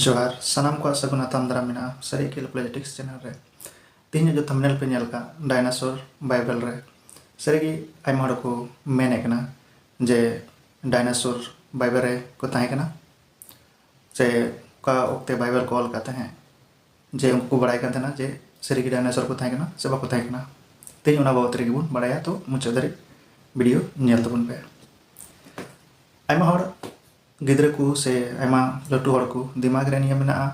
ᱡᱚᱦᱟᱨ ᱥᱟᱱᱟᱢ ᱠᱚᱣᱟᱜ ᱥᱟᱹᱜᱩᱱ ᱟᱛᱟᱢ ᱫᱟᱨᱟᱢ ᱢᱮᱱᱟᱜᱼᱟ ᱥᱟᱹᱨᱤ ᱠᱷᱮᱞ ᱯᱚᱞᱤᱴᱤᱠᱥ ᱪᱮᱱᱮᱞ ᱨᱮ ᱛᱮᱦᱮᱧ ᱡᱚ ᱛᱷᱟᱢᱵᱱᱮᱞ ᱯᱮ ᱧᱮᱞ ᱠᱟᱜ ᱰᱟᱭᱱᱟᱥᱚᱨ ᱵᱟᱭᱵᱮᱞ ᱨᱮ ᱥᱟᱹᱨᱤᱜᱮ ᱟᱭᱢᱟ ᱦᱚᱲ ᱠᱚ ᱢᱮᱱᱮ ᱠᱟᱱᱟ ᱡᱮ ᱰᱟᱭᱱᱟᱥᱚᱨ ᱵᱟᱭᱵᱮᱞ ᱨᱮ ᱠᱚ ᱛᱟᱦᱮᱸ ᱠᱟᱱᱟ ᱥᱮ ᱚᱠᱟ ᱚᱠᱛᱮ ᱵᱟᱭᱵᱮᱞ ᱠᱚ ᱚᱞ ᱠᱟᱜ ᱛᱟᱦᱮᱸᱫ ᱡᱮ ᱩᱱᱠᱩ ᱠᱚ ᱵᱟᱲᱟᱭ ᱠᱟᱱ ᱛᱟᱦᱮᱱᱟ ᱡᱮ ᱥᱟᱹᱨᱤᱜᱮ ᱰᱟᱭᱱᱮᱥᱚᱨ ᱠᱚ ᱛᱟᱦᱮᱸ ᱠᱟᱱᱟ ᱥᱮ ᱵᱟᱠᱚ ᱛᱟᱦᱮᱸ ᱠᱟᱱᱟ ᱛᱮᱦᱮᱧ ᱚᱱᱟ ᱵᱟᱵᱚᱛ ᱨᱮᱜᱮ ᱵᱚᱱ ᱵᱟᱲᱟᱭᱟ ᱛᱚ ᱢᱩᱪᱟᱹᱫ ᱫᱷᱟᱹᱨᱤᱡ ᱵᱷᱤᱰᱤᱭᱳ ᱧᱮᱞ ᱛᱟᱵᱚᱱ ᱯᱮ ᱟᱭᱢᱟ ᱦᱚᱲ ᱜᱤᱫᱽᱨᱟᱹ ᱠᱚ ᱥᱮ ᱟᱭᱢᱟ ᱞᱟᱹᱴᱩ ᱦᱚᱲ ᱠᱚ ᱫᱤᱢᱟᱜᱽ ᱨᱮ ᱱᱤᱭᱟᱹ ᱢᱮᱱᱟᱜᱼᱟ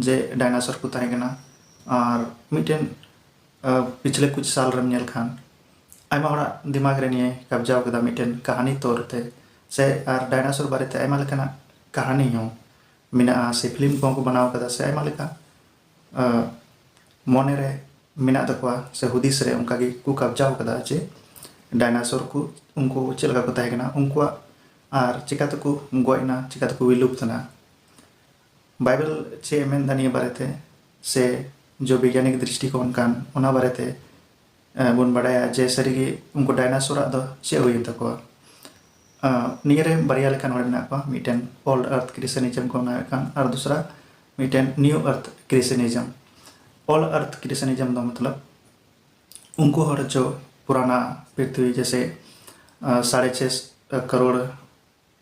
ᱡᱮ ᱰᱟᱭᱱᱮᱥᱚᱨ ᱠᱚ ᱛᱟᱦᱮᱸ ᱠᱟᱱᱟ ᱟᱨ ᱢᱤᱫᱴᱮᱱ ᱯᱤᱪᱷᱞᱮ ᱠᱩᱪ ᱥᱟᱞ ᱨᱮᱢ ᱧᱮᱞ ᱠᱷᱟᱱ ᱟᱭᱢᱟ ᱦᱚᱲᱟᱜ ᱫᱤᱢᱟᱜᱽ ᱨᱮ ᱱᱤᱭᱟᱹ ᱠᱟᱵᱡᱟᱣ ᱠᱮᱫᱟ ᱢᱤᱫᱴᱮᱱ ᱠᱟᱹᱦᱱᱤ ᱛᱚᱨ ᱛᱮ ᱥᱮ ᱟᱨ ᱰᱟᱭᱱᱮᱥᱚᱨ ᱵᱟᱨᱮᱛᱮ ᱟᱭᱢᱟ ᱞᱮᱠᱟᱱᱟᱜ ᱠᱟᱹᱦᱱᱤ ᱦᱚᱸ ᱢᱮᱱᱟᱜᱼᱟ ᱥᱮ ᱯᱷᱤᱞᱢ ᱠᱚᱦᱚᱸ ᱠᱚ ᱵᱮᱱᱟᱣ ᱟᱠᱟᱫᱟ ᱥᱮ ᱟᱭᱢᱟ ᱞᱮᱠᱟ ᱢᱚᱱᱮ ᱨᱮ ᱢᱮᱱᱟᱜ ᱛᱟᱠᱚᱣᱟ ᱥᱮ ᱦᱩᱫᱤᱥ ᱨᱮ ᱚᱱᱠᱟ ᱜᱮ ᱠᱚ ᱠᱟᱵᱽᱡᱟ ᱟᱠᱟᱫᱟ ᱡᱮ ᱰᱟᱭᱱᱟᱥᱚᱨ ᱠᱚ ᱩᱱᱠᱩ ᱪᱮᱫ ᱞᱮᱠᱟ ᱠᱚ ᱛᱟᱦᱮᱸ ᱠᱟᱱᱟ ᱩᱱᱠᱩᱣᱟᱜ ᱟᱨ ᱪᱮᱠᱟ ᱛᱮᱠᱚ ᱜᱚᱡ ᱮᱱᱟ ᱪᱮᱠᱟ ᱛᱮᱠᱚ ᱵᱤᱞᱩᱯᱛ ᱮᱱᱟ ᱵᱟᱭᱵᱮᱞ ᱪᱮᱫ ᱮ ᱢᱮᱱᱫᱟ ᱱᱤᱭᱟᱹ ᱵᱟᱨᱮᱛᱮ ᱥᱮ ᱡᱚ ᱵᱤᱜᱽᱜᱟᱱᱤᱠ ᱫᱨᱤᱥᱴᱤᱠᱳᱱ ᱠᱟᱱ ᱚᱱᱟ ᱵᱟᱨᱮᱛᱮ ᱵᱚᱱ ᱵᱟᱲᱟᱭᱟ ᱡᱮ ᱥᱟᱹᱨᱤᱜᱮ ᱩᱱᱠᱩ ᱰᱟᱭᱱᱟᱥᱚᱨᱟᱜ ᱫᱚ ᱪᱮᱫ ᱦᱩᱭᱮᱱ ᱛᱟᱠᱚᱣᱟ ᱱᱤᱭᱟᱹ ᱨᱮ ᱵᱟᱨᱭᱟ ᱞᱮᱠᱟᱱ ᱦᱚᱲ ᱢᱮᱱᱟᱜ ᱠᱚᱣᱟ ᱢᱤᱫᱴᱮᱱ ᱳᱞᱰ ᱟᱨᱛᱷ ᱠᱨᱤᱥᱮᱱᱤᱡᱚᱢ ᱠᱚ ᱢᱟᱱᱟᱣᱮᱫ ᱠᱟᱱ ᱟᱨ ᱫᱚᱥᱨᱟ ᱢᱤᱫᱴᱮᱱ ᱱᱤᱭᱩ ᱟᱨᱛᱷ ᱠᱨᱤᱥᱮᱱᱤᱡᱚᱢ ᱳᱞᱰ ᱟᱨᱛᱷ ᱠᱨᱤᱥᱮᱱᱤᱡᱚᱢ ᱫᱚ ᱢᱚᱛᱞᱚᱵ ᱩᱱᱠᱩ ᱦᱚᱲ ᱡᱚ ᱯᱩᱨᱟᱱᱟ ᱯᱨᱤᱛᱷᱤᱵᱤ ᱡᱮᱥᱮ ᱥᱟᱲᱮ ᱪᱷᱮ ᱠᱟᱨᱳᱲ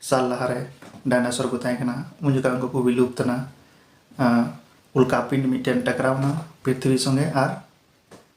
ᱥᱟᱞ ᱞᱟᱦᱟᱨᱮ ᱰᱟᱭᱱᱟᱥᱚᱨ ᱠᱚ ᱛᱟᱦᱮᱸ ᱠᱟᱱᱟ ᱩᱱ ᱡᱚᱠᱷᱟᱡ ᱩᱱᱠᱩ ᱠᱚ ᱵᱤᱞᱩᱯᱛᱱᱟ ᱩᱞᱠᱟᱯᱤᱱ ᱢᱤᱫᱴᱮᱱ ᱴᱟᱠᱨᱟᱣᱱᱟ ᱯᱨᱤᱛᱷᱤᱵᱤ ᱥᱚᱸᱜᱮ ᱟᱨ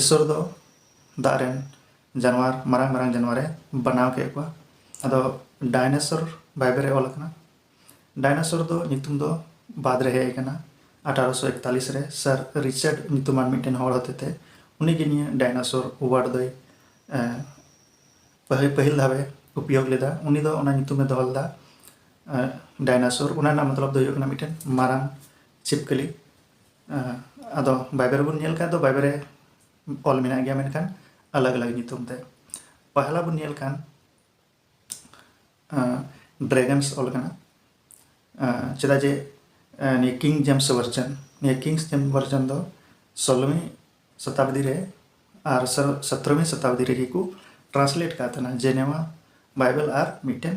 ᱤᱥᱥᱚᱨ ᱫᱚ ᱫᱟᱜ ᱨᱮᱱ ᱡᱟᱱᱣᱟᱨ ᱢᱟᱨᱟᱝ ᱢᱟᱨᱟᱝ ᱡᱟᱱᱣᱟᱨ ᱮ ᱵᱟᱱᱟᱣ ᱠᱮᱫ ᱠᱚᱣᱟ ᱟᱫᱚ ᱰᱟᱭᱱᱮᱥᱚᱨ ᱵᱟᱭᱵᱮᱞ ᱨᱮ ᱚᱞ ᱟᱠᱟᱱᱟ ᱰᱟᱭᱱᱮᱥᱚᱨ ᱫᱚ ᱧᱩᱛᱩᱢ ᱫᱚ ᱵᱟᱫ ᱨᱮ ᱦᱮᱡ ᱟᱠᱟᱱᱟ ᱟᱴᱷᱟᱨᱚᱥᱚ ᱮᱠᱛᱟᱞᱤᱥ ᱨᱮ ᱥᱟᱨ ᱨᱤᱪᱟᱨᱰ ᱧᱩᱛᱩᱢᱟᱱ ᱢᱤᱫᱴᱮᱱ ᱦᱚᱲ ᱦᱚᱛᱮᱛᱮ ᱩᱱᱤᱜᱮ ᱱᱤᱭᱟᱹ ᱰᱟᱭᱱᱮᱥᱚᱨ ᱳᱣᱟᱨᱰ ᱫᱚᱭ ᱯᱟᱹᱦᱤᱞ ᱯᱟᱹᱦᱤᱞ ᱫᱷᱟᱣᱮ ᱩᱯᱭᱳᱜᱽ ᱞᱮᱫᱟ ᱩᱱᱤ ᱫᱚ ᱚᱱᱟ ᱧᱩᱛᱩᱢᱮ ᱫᱚᱦᱚ ᱞᱮᱫᱟ ᱰᱟᱭᱱᱮᱥᱚᱨ ᱚᱱᱟ ᱨᱮᱱᱟᱜ ᱢᱚᱛᱞᱚᱵ ᱫᱚ ᱦᱩᱭᱩᱜ ᱠᱟᱱᱟ ᱢᱤᱫᱴᱮᱱ ᱢᱟᱨᱟᱝ ᱪᱷᱤᱯᱠᱟᱹᱞᱤ ᱟᱫᱚ ᱵᱟᱭᱵᱮ ᱨᱮᱵᱚᱱ ᱧᱮᱞ ᱠᱷᱟᱱ ᱫᱚ ᱵᱟᱭᱵᱮ ᱨᱮ ᱚᱞ ᱢᱮᱱᱟᱜ ᱜᱮᱭᱟ ᱢᱮᱱᱠᱷᱟᱱ ᱟᱞᱟᱜᱽ ᱟᱞᱟᱜᱽ ᱧᱩᱛᱩᱢ ᱛᱮ ᱯᱟᱦᱞᱟ ᱵᱚᱱ ᱧᱮᱞ ᱠᱷᱟᱱ ᱰᱨᱮᱜᱚᱱᱥ ᱚᱞ ᱠᱟᱱᱟ ᱪᱮᱫᱟᱜ ᱡᱮ ᱱᱤᱭᱟᱹ ᱠᱤᱝ ᱡᱮᱢᱥ ᱵᱷᱟᱨᱡᱟᱱ ᱱᱤᱭᱟᱹ ᱠᱤᱝ ᱡᱮᱢᱥ ᱵᱷᱟᱨᱡᱟᱱ ᱫᱚ ᱥᱳᱞᱳᱢᱤ ᱥᱚᱛᱟᱵᱫᱤ ᱨᱮ ᱟᱨ ᱥᱚᱛᱨᱚᱢᱤ ᱥᱚᱛᱟᱵᱫᱤ ᱨᱮᱜᱮ ᱠᱚ ᱴᱨᱟᱱᱥᱞᱮᱴ ᱠᱟᱜ ᱛᱟᱦᱮᱱᱟ ᱡᱮᱱᱮᱣᱟ ᱵᱟᱭᱵᱮᱞ ᱟᱨ ᱢᱤᱫᱴᱮᱱ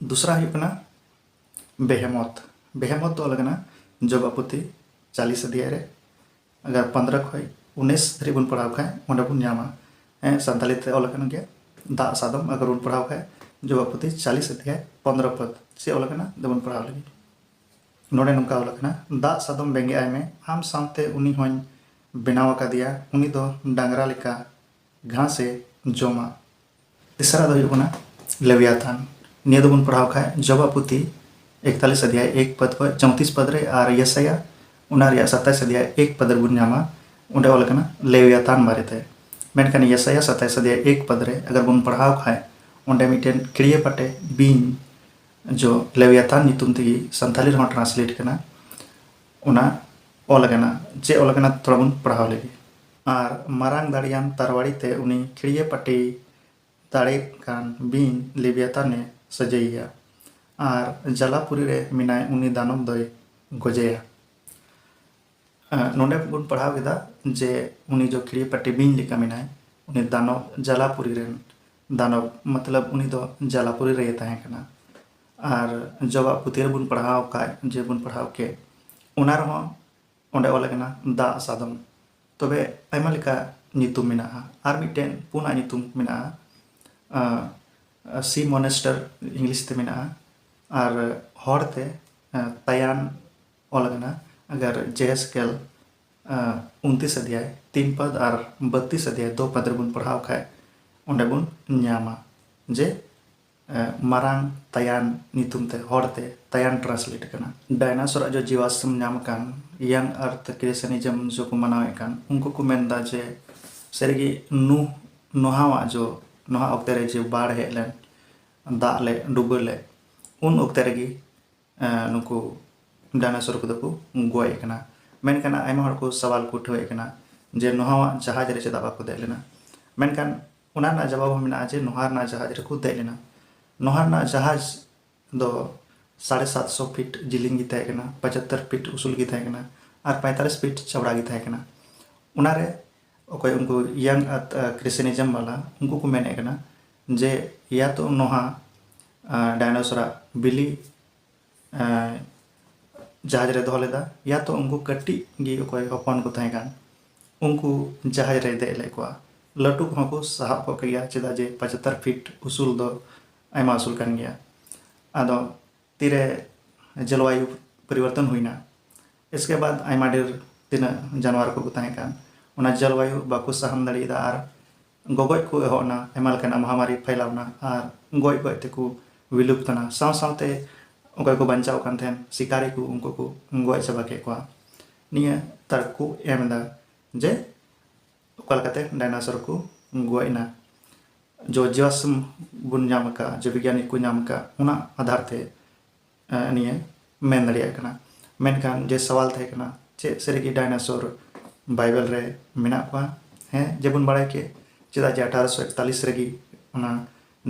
ᱫᱩᱥᱨᱟ ᱦᱩᱭᱩᱜ ᱠᱟᱱᱟ ᱵᱮᱦᱮᱢᱚᱛ ᱵᱮᱦᱮᱢᱚᱛ ᱫᱚ ᱚᱞ ᱠᱟᱱᱟ ᱡᱚᱵᱟᱯᱚᱛᱤ ᱪᱟᱞᱤᱥ ᱚᱫᱷᱭᱟᱭ ᱨᱮ ᱟᱜᱟᱨ ᱯᱚᱱᱫᱨᱚ ᱠᱷᱚᱡ ᱩᱱᱤᱥ ᱫᱷᱟᱹᱨᱤᱡ ᱵᱚᱱ ᱯᱟᱲᱦᱟᱣ ᱠᱷᱟᱡ ᱚᱸᱰᱮ ᱵᱚᱱ ᱧᱟᱢᱟ ᱦᱮᱸ ᱥᱟᱱᱛᱟᱲᱤ ᱛᱮ ᱚᱞ ᱠᱟᱱ ᱜᱮᱭᱟ ᱫᱟᱜ ᱥᱟᱫᱚᱢ ᱟᱜᱟᱨ ᱵᱚᱱ ᱯᱟᱲᱦᱟᱣ ᱠᱷᱟᱡ ᱡᱚᱵᱟᱯᱚᱛᱤ ᱪᱟᱞᱤᱥ ᱚᱫᱷᱭᱟᱭ ᱯᱚᱱᱫᱨᱚ ᱯᱚᱫ ᱪᱮᱫ ᱚᱞ ᱠᱟᱱᱟ ᱫᱚᱵᱚᱱ ᱯᱟᱲᱦᱟᱣ ᱞᱟᱹᱜᱤᱫ ᱱᱚᱰᱮ ᱱᱚᱝᱠᱟ ᱚᱞ ᱠᱟᱱᱟ ᱫᱟᱜ ᱥᱟᱫᱚᱢ ᱵᱮᱸᱜᱮᱫ ᱟᱭ ᱢᱮ ᱟᱢ ᱥᱟᱶᱛᱮ ᱩᱱᱤ ᱦᱚᱧ ᱵᱮᱱᱟᱣ ᱟᱠᱟᱫᱮᱭᱟ ᱩᱱᱤ ᱫᱚ ᱰᱟᱝᱨᱟ ᱞᱮᱠᱟ ᱜᱷᱟᱥ ᱮ ᱡᱚᱢᱟ ᱛᱮᱥᱟᱨᱟᱜ ᱫᱚ ᱦᱩᱭᱩᱜ ᱠᱟᱱᱟ ᱞᱮᱣᱭᱟᱛᱟᱱ ᱱᱤᱭᱟᱹ ᱫᱚᱵᱚᱱ ᱯᱟᱲᱦᱟᱣ ᱠᱷᱟᱡ ᱡᱚᱵᱟ ᱯᱩᱛᱷᱤ ᱮᱠᱛᱟᱞᱤᱥ ᱟᱫᱷᱭᱟᱭ ᱮᱠ ᱯᱟᱫ ᱠᱷᱚᱡ ᱪᱚᱣᱛᱤᱥ ᱯᱟᱫ ᱨᱮ ᱟᱨ ᱭᱮᱥᱟᱭᱟ ᱚᱱᱟ ᱨᱮᱭᱟᱜ ᱥᱟᱛᱟᱭᱤᱥ ᱟᱫᱷᱭᱟᱭ ᱮᱠ ᱯᱟᱫ ᱨᱮᱵᱚᱱ ᱧᱟᱢᱟ ᱚᱸᱰᱮ ᱚᱞ ᱠᱟᱱᱟ ᱞᱮᱣᱭᱟᱛᱟᱱ ᱵᱟᱨᱮᱛᱮ ᱢᱮᱱᱠᱷᱟᱱ ᱭᱮᱥᱟᱭᱟ ᱥᱟᱛᱟᱭᱤᱥ ᱟᱫᱷᱭᱟᱭ ᱮᱠ ᱯᱟᱫ ᱨᱮ ᱟᱜᱟᱨ ᱵᱚᱱ ᱯᱟᱲᱦᱟᱣ ᱠᱷᱟᱡ ᱚᱸᱰᱮ ᱢᱤᱫᱴᱮᱱ ᱠᱤᱲᱤᱭᱟᱹ ᱯᱟᱴᱮ ᱵᱤᱧ ᱡᱚ ᱞᱮᱣᱭᱟᱛᱟᱱ ᱧᱩᱛᱩᱢ ᱛᱮᱜᱮ ᱥᱟᱱᱛᱟᱞᱤ ᱨᱮᱦᱚᱸ ᱴᱨᱟᱱᱥᱞᱮᱴ ᱠᱟᱱᱟ ᱚᱱᱟ ᱚᱞ ᱠᱟᱱᱟ ᱪᱮᱫ ᱚᱞ ᱠᱟᱱᱟ ᱛᱷᱚᱲᱟ ᱵᱚᱱ ᱯᱟᱲᱦᱟᱣ ᱞᱮᱜᱮ ᱟᱨ ᱢᱟᱨᱟᱝ ᱫᱟᱲᱮᱭᱟᱱ ᱛᱟᱨᱣᱟᱲᱤ ᱛᱮ ᱩᱱᱤ ᱠᱷᱤᱲᱭᱟᱹ ᱯᱟᱹᱴᱤ ᱫᱟᱲᱮᱜ ᱠᱟᱱ ᱵᱤᱧ ᱞᱮᱵᱤᱭᱟᱛᱟᱱ ᱮ ᱥᱚᱡᱷᱮᱭᱮᱭᱟ ᱟᱨ ᱡᱟᱞᱟᱯᱩᱨᱤ ᱨᱮ ᱢᱮᱱᱟᱭ ᱩᱱᱤ ᱫᱟᱱᱚᱵ ᱫᱚᱭ ᱜᱚᱡᱮᱭᱟ᱾ ᱱᱚᱰᱮ ᱵᱚᱱ ᱯᱟᱲᱦᱟᱣ ᱠᱮᱫᱟ ᱡᱮ ᱩᱱᱤ ᱡᱚ ᱠᱷᱤᱲᱭᱟᱹ ᱯᱟᱹᱴᱤ ᱵᱤᱧ ᱞᱮᱠᱟ ᱢᱮᱱᱟᱭ ᱩᱱᱤ ᱫᱟᱱᱚᱵ ᱡᱟᱞᱟᱯᱩᱨᱤ ᱨᱮᱱ ᱫᱟᱱᱚᱵ ᱢᱚᱛᱞᱚᱵ ᱩᱱᱤ ᱫᱚ ᱡᱟᱞᱟᱯᱩᱨᱤ ᱨᱮᱜᱮ ᱛᱟᱦᱮᱸ ᱠᱟᱱᱟ ᱟᱨ ᱡᱚ ᱟᱜ ᱯᱩᱛᱷᱤ ᱨᱮᱵᱚᱱ ᱯᱟᱲᱦᱟᱣ ᱠᱟᱜ ᱡᱮ ᱵᱚᱱ ᱯᱟᱲᱦᱟᱣ ᱠᱮᱫ ᱚᱱᱟ ᱨᱮᱦᱚᱸ ᱚᱸᱰᱮ ᱚᱞ ᱟᱠᱟᱱᱟ ᱫᱟᱜ ᱥᱟᱫᱚᱢ ᱛᱚᱵᱮ ᱟᱭᱢᱟ ᱞᱮᱠᱟ ᱧᱩᱛᱩᱢ ᱢᱮᱱᱟᱜᱼᱟ ᱟᱨ ᱢᱤᱫᱴᱮᱱ ᱯᱩᱱᱟᱜ ᱧᱩᱛᱩᱢ ᱢᱮᱱᱟᱜᱼᱟ ᱥᱤ ᱢᱚᱱᱮᱥᱴᱟᱨ ᱤᱝᱞᱤᱥ ᱛᱮ ᱢᱮᱱᱟᱜᱼᱟ ᱟᱨ ᱦᱚᱲ ᱛᱮ ᱛᱟᱭᱟᱱ ᱚᱞ ᱟᱠᱟᱱᱟ ᱟᱜᱟᱨ ᱡᱮᱦᱮᱥᱠᱮᱞ ᱩᱱᱛᱤᱥ ᱟᱫᱷᱭᱟᱭ ᱛᱤᱱ ᱯᱟᱫ ᱟᱨ ᱵᱟᱛᱤᱥ ᱟᱫᱷᱭᱟᱭ ᱫᱚ ᱯᱟᱫ ᱨᱮᱵᱚᱱ ᱯᱟᱲᱦᱟᱣ ᱠᱷᱟᱡ ᱚᱸᱰᱮ ᱵᱚᱱ ᱧᱟᱢᱟ ᱡᱮ ᱢᱟᱨᱟᱝ ᱛᱟᱭᱟᱱ ᱧᱩᱛᱩᱢ ᱛᱮ ᱦᱚᱲ ᱛᱮ ᱛᱟᱭᱟᱱ ᱴᱨᱟᱱᱥᱞᱮᱴ ᱟᱠᱟᱱᱟ᱾ ᱰᱟᱭᱱᱟᱥᱚᱨ ᱟᱜ ᱡᱚ ᱡᱤᱣᱟᱥᱨᱚᱢ ᱧᱟᱢ ᱟᱠᱟᱱ ᱤᱭᱟᱝ ᱟᱨᱛᱷ ᱠᱨᱮᱥᱮᱱᱤᱡᱚᱢ ᱡᱚ ᱠᱚ ᱢᱟᱱᱟᱣ ᱮᱫ ᱠᱟᱱ ᱩᱱᱠᱩ ᱠᱚ ᱢᱮᱱ ᱮᱫᱟ ᱡᱮ ᱥᱟᱹᱨᱤ ᱜᱮ ᱱᱩᱦ ᱱᱚᱦᱟᱣ ᱟᱜ ᱡᱚ ᱱᱚᱦᱟ ᱚᱠᱛᱮ ᱨᱮ ᱡᱮ ᱵᱟᱲ ᱦᱮᱡ ᱞᱮᱱ ᱫᱟᱜ ᱞᱮ ᱰᱩᱵᱟᱹ ᱞᱮ ᱩᱱ ᱚᱠᱛᱮ ᱨᱮ ᱜᱮ ᱱᱩᱠᱩ ᱰᱟᱭᱱᱟᱥᱚᱨ ᱠᱚᱫᱚ ᱠᱚ ᱜᱚᱡ ᱟᱠᱟᱱᱟ ᱢᱮᱱᱠᱷᱟᱱ ᱟᱭᱢᱟ ᱦᱚᱲ ᱠᱚ ᱥᱟᱣᱟᱞ ᱠᱚ ᱩᱴᱷᱟᱹᱣ ᱮᱫ ᱠᱟᱱᱟ ᱡᱮ ᱱᱚᱦᱟᱣᱟᱜ ᱡᱟᱦᱟᱡᱽ ᱨᱮ ᱪᱮᱫᱟᱜ ᱵᱟᱠᱚ ᱫᱮᱡ ᱞᱮᱱᱟ ᱢᱮᱱᱠᱷᱟᱱ ᱚᱱᱟ ᱨᱮᱱᱟᱜ ᱡᱟᱵᱟᱵ ᱦᱚᱸ ᱢᱮᱱᱟᱜᱼᱟ ᱡᱮ ᱱᱚᱦᱟ ᱨᱮᱱᱟᱜ ᱡᱟᱦᱟᱡᱽ ᱨᱮᱠᱚ ᱫᱮᱡ ᱞᱮᱱᱟ ᱱᱚᱦᱟ ᱨᱮᱱᱟᱜ ᱡᱟᱦᱟᱡᱽ ᱫᱚ ᱥᱟᱲᱮ ᱥᱟᱛᱥᱚ ᱯᱷᱤᱴ ᱡᱤᱞᱤᱧ ᱜᱮ ᱛᱟᱦᱮᱸ ᱠᱟᱱᱟ ᱯᱟᱪᱟᱛᱛᱚᱨ ᱯᱷᱤᱴ ᱩᱥᱩᱞ ᱜᱮ ᱛᱟᱦᱮᱸ ᱠᱟᱱᱟ ᱟᱨ ᱯᱟᱭᱛᱟᱞᱤᱥ ᱯᱷᱤᱴ ᱪᱟᱣᱲᱟ ᱜᱮ ᱛᱟᱦᱮᱸ ᱠᱟᱱᱟ ᱚᱱᱟ ᱨᱮ ᱚᱠᱚᱭ ᱩᱱᱠᱩ ᱤᱭᱟᱝ ᱠᱨᱤᱥᱮᱱᱤᱡᱚᱢ ᱵᱟᱞᱟ ᱩᱱᱠᱩ ᱠᱚ ᱢᱮᱱᱮᱫ ᱠᱟᱱᱟ ᱡᱮ ᱤᱭᱟ ᱛᱚ ᱱᱚᱦᱟ ᱰᱟᱭᱱᱚᱥᱚᱨᱟᱜ ᱵᱤᱞᱤ ᱡᱟᱦᱟᱡᱽ ᱨᱮ ᱫᱚᱦᱚ ᱞᱮᱫᱟ ᱭᱟ ᱛᱚ ᱩᱱᱠᱩ ᱠᱟᱹᱴᱤᱡ ᱜᱮ ᱚᱠᱚᱭ ᱦᱚᱯᱚᱱ ᱠᱚ ᱛᱟᱦᱮᱸ ᱠᱟᱱ ᱩᱱᱠᱩ ᱡᱟᱦᱟᱡᱽ ᱨᱮᱭ ᱫᱮᱡ ᱞᱮᱫ ᱠᱚᱣᱟ ᱞᱟᱹᱴᱩ ᱠᱚᱦᱚᱸ ᱠᱚ ᱥᱟᱦᱟᱵ ᱠᱚᱜ ᱠᱮᱭᱟ ᱪᱮᱫᱟᱜ ᱡᱮ ᱯᱚᱪᱟᱛᱛᱚᱨ ᱯᱷᱤᱴ ᱩᱥᱩᱞ ᱫᱚ ᱟᱭᱢᱟ ᱩᱥᱩᱞ ᱠᱟᱱ ᱜᱮᱭᱟ ᱟᱫᱚ ᱛᱤᱨᱮ ᱡᱚᱞᱚᱵᱟᱭᱩ ᱯᱚᱨᱤᱵᱚᱨᱛᱚᱱ ᱦᱩᱭᱱᱟ ᱤᱥᱠᱮ ᱵᱟᱫᱽ ᱟᱭᱢᱟ ᱰᱷᱮᱨ ᱛᱤᱱᱟᱹᱜ ᱡᱟᱱᱣᱟᱨ ᱠᱚᱠᱚ ᱛᱟᱦᱮᱸ ᱠᱟᱱ ᱚᱱᱟ ᱡᱚᱞᱚᱵᱟᱭᱩ ᱵᱟᱠᱚ ᱥᱟᱦᱟᱱ ᱫᱟᱲᱮᱭᱟᱫᱟ ᱟᱨ ᱜᱚᱜᱚᱡ ᱠᱚ ᱮᱦᱚᱵ ᱮᱱᱟ ᱟᱭᱢᱟ ᱞᱮᱠᱟᱱᱟᱜ ᱢᱚᱦᱟᱢᱟᱨᱤ ᱯᱷᱟᱭᱞᱟᱣ ᱮᱱᱟ ᱟᱨ ᱜᱚᱡ ᱜᱚᱡ ᱛᱮᱠᱚ ᱵᱤᱞᱩᱯᱛ ᱮᱱᱟ ᱥᱟᱶ ᱥᱟᱶᱛᱮ ᱚᱠᱚᱭ ᱠᱚ ᱵᱟᱧᱪᱟᱣ ᱠᱟᱱ ᱛᱟᱦᱮᱱ ᱥᱤᱠᱟᱨᱤ ᱠᱚ ᱩᱱᱠᱩ ᱠᱚ ᱜᱚᱡ ᱪᱟᱵᱟ ᱠᱮᱫ ᱠᱚᱣᱟ ᱱᱤᱭᱟᱹ ᱛᱟᱨᱠ ᱠᱚ ᱮᱢ ᱮᱫᱟ ᱡᱮ ᱚᱠᱟ ᱞᱮᱠᱟᱛᱮ ᱰᱟᱭᱱᱟᱥᱚᱨ ᱠᱚ ᱜᱚᱡ ᱮᱱᱟ ᱡᱚ ᱡᱚᱥ ᱵᱚᱱ ᱧᱟᱢ ᱟᱠᱟᱫ ᱡᱮ ᱵᱤᱜᱽᱜᱟᱱᱤ ᱠᱚ ᱧᱟᱢ ᱟᱠᱟᱫ ᱚᱱᱟ ᱟᱫᱷᱟᱨ ᱛᱮ ᱱᱤᱭᱟᱹ ᱢᱮᱱ ᱫᱟᱲᱮᱭᱟᱜ ᱠᱟᱱᱟ ᱢᱮᱱᱠᱷᱟᱱ ᱡᱮ ᱥᱟᱣᱟᱞ ᱛᱟᱦᱮᱸ ᱠᱟᱱᱟ ᱪᱮᱫ ᱥᱟᱹᱨᱤᱜᱮ ᱰᱟᱭᱱᱟᱥᱚᱨ ᱵᱟᱭᱵᱮᱞ ᱨᱮ ᱢᱮᱱᱟᱜ ᱠᱚᱣᱟ ᱦᱮᱸ ᱡᱮᱵᱚᱱ ᱵᱟᱲᱟᱭ ᱠᱮᱫ ᱪᱮᱫᱟᱜ ᱡᱮ ᱟᱴᱷᱟᱨᱚᱥᱚ ᱮᱠᱛᱟᱞᱤᱥ ᱨᱮᱜᱮ ᱚᱱᱟ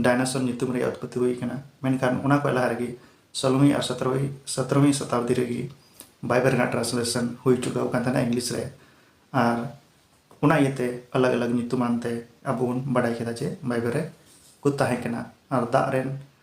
ᱰᱟᱭᱱᱟᱥᱚᱨ ᱧᱩᱛᱩᱢ ᱨᱮᱭᱟᱜ ᱩᱛᱯᱚᱛᱛᱤ ᱦᱩᱭ ᱠᱟᱱᱟ ᱢᱮᱱᱠᱷᱟᱱ ᱚᱱᱟ ᱠᱷᱚᱱ ᱞᱟᱦᱟ ᱨᱮᱜᱮ ᱥᱳᱞᱳᱢᱤ ᱟᱨ ᱥᱚᱛᱨᱚᱢᱤ ᱥᱚᱛᱨᱚᱢᱤ ᱥᱚᱛᱟᱵᱫᱤ ᱨᱮᱜᱮ ᱵᱟᱭᱵᱮᱞ ᱨᱮᱱᱟᱜ ᱴᱨᱟᱱᱥᱞᱮᱥᱚᱱ ᱦᱩᱭ ᱪᱩᱠᱟᱹᱣ ᱟᱠᱟᱱ ᱛᱟᱦᱮᱱᱟ ᱤᱝᱞᱤᱥ ᱨᱮ ᱟᱨ ᱚᱱᱟ ᱤᱭᱟᱹᱛᱮ ᱟᱞᱟᱜᱽ ᱟᱞᱟᱜᱽ ᱧᱩᱛᱩᱢᱟᱱ ᱛᱮ ᱟᱵᱚ ᱵᱚᱱ ᱵᱟᱰᱟᱭ ᱠᱮᱫᱟ ᱡᱮ ᱵᱟᱭᱵᱮᱞ ᱨᱮ ᱠᱚ ᱛᱟᱦᱮᱸ ᱠᱟᱱᱟ ᱟᱨ ᱫᱟᱜ ᱨᱮᱱ